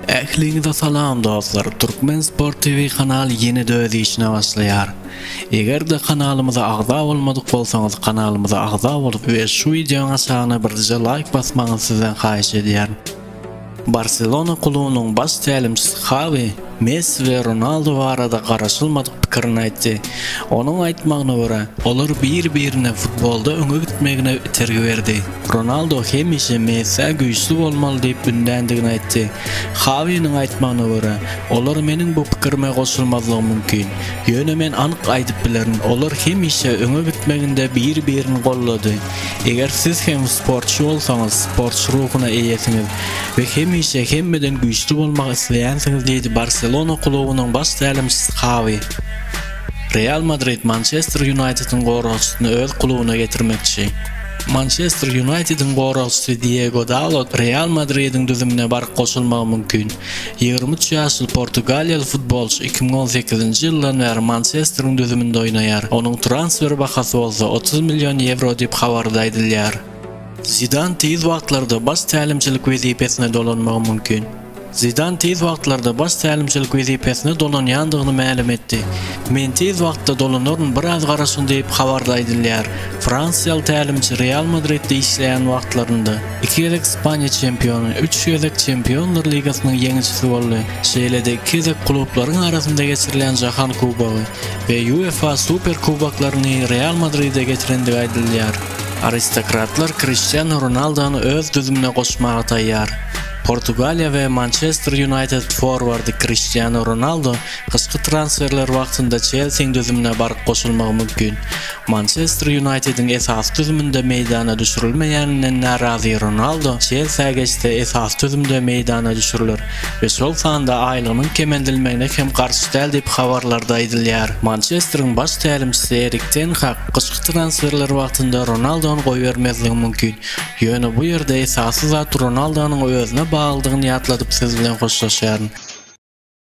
Ähliňize salam dostlar! Türkmen Sport TV kanaly ýene-de öz işine başlaýar. Eger-de kanalymyza agza bolmadyk bolsaňyz, kanalymyza agza bolup we şu wideoň aşagyna birje laýk basmagyňyzy sizden haýyş edýärin. Barselona klubunyň baş tälimçisi Xawi Messi we Ronaldu barada garaşylmadyk pikirini aýtdy. Onuň aýtmagyna görä, olar bir-birine futbolda öňe gitmegine itergi berdi. Ronaldo hemişe Messiä güýçli bolmaly diýip ündändigini aýtdy. Hawiniň aýtmagyna görä, olar meniň bu pikirime goşulmazlygy mümkin. Ýöne men anyk aýdyp bilerin, olar hemişe öňe gitmeginde bir-birini goldady. Eger siz hem sportçy bolsaňyz, sportçy ruhuna eýesiňiz we hemişe hemmeden güýçli bolmak isleýänsiňiz diýdi Barselona klubunyň baş tälimçisi Hawi. Real Madrid Mançester Ýunaýtediň goragçysyny öz klubuna getirmekçi. Mançester Ýunaýtediň goragçysy Diego Dalot Real Madridiň düzümine baryp goşulmagy mümkin. Ýigrimi üç ýaşly portugaliýaly futbolçy iki müň on sekizinji ýyldan bäri Mançesteriň düzüminde oýnaýar, onuň transfer bahasy bolsa otuz million ýewro diýip habarda aýdylýar. Zidan tiz wagtlarda baş tälimçilik wezipesine dolanmagy mümkin. Zidan tiz wagtlarda baş tälimçilik wezipesine dolanýandygyny mälim etdi. Men tiz wagtda dolanaryn, biraz garaşyň diýip, habarda aýdylýar. Fransiýaly tälimçi Real Madridde işleýän wagtlarynda iki gezek Ispaniýa çempiony, üç gezek Çempionlar ligasynyň ýeňijisi boldy, şeýle-de iki gezek klublaryň arasynda geçirilýän Jahan kubogy we UEFA Super kuboklaryny Real Madride getirendigi aýdylýar. Aristokratlar Kriştianu Ronaldony öz düzümine goşmaga taýýar. Portugaliýa we Mançester Ýunaýted forwardy Kriştianu Ronaldu gyşky transferler wagtynda Çelsiň düzümine baryp goşulmagy mümkin. Mançester Ýunaýtediň esasy düzüminde meýdana düşürilmeýäninden närazy Ronaldu Çelsiä geçse esasy düzümde meýdana düşüriler we şol sanda aýlygynyň kemeldilmegine hem garşy däl diýip habarlarda aýdylýar. Mançesteriň baş tälimçisi Erik ten Hag gyşky transferler wagtynda Ronaldony goýbermezligi mümkin. Ýöne bu ýerde esasy zat Ronaldonyň özüne baglydygyny ýatladyp siz bilen hoşlaşýaryn.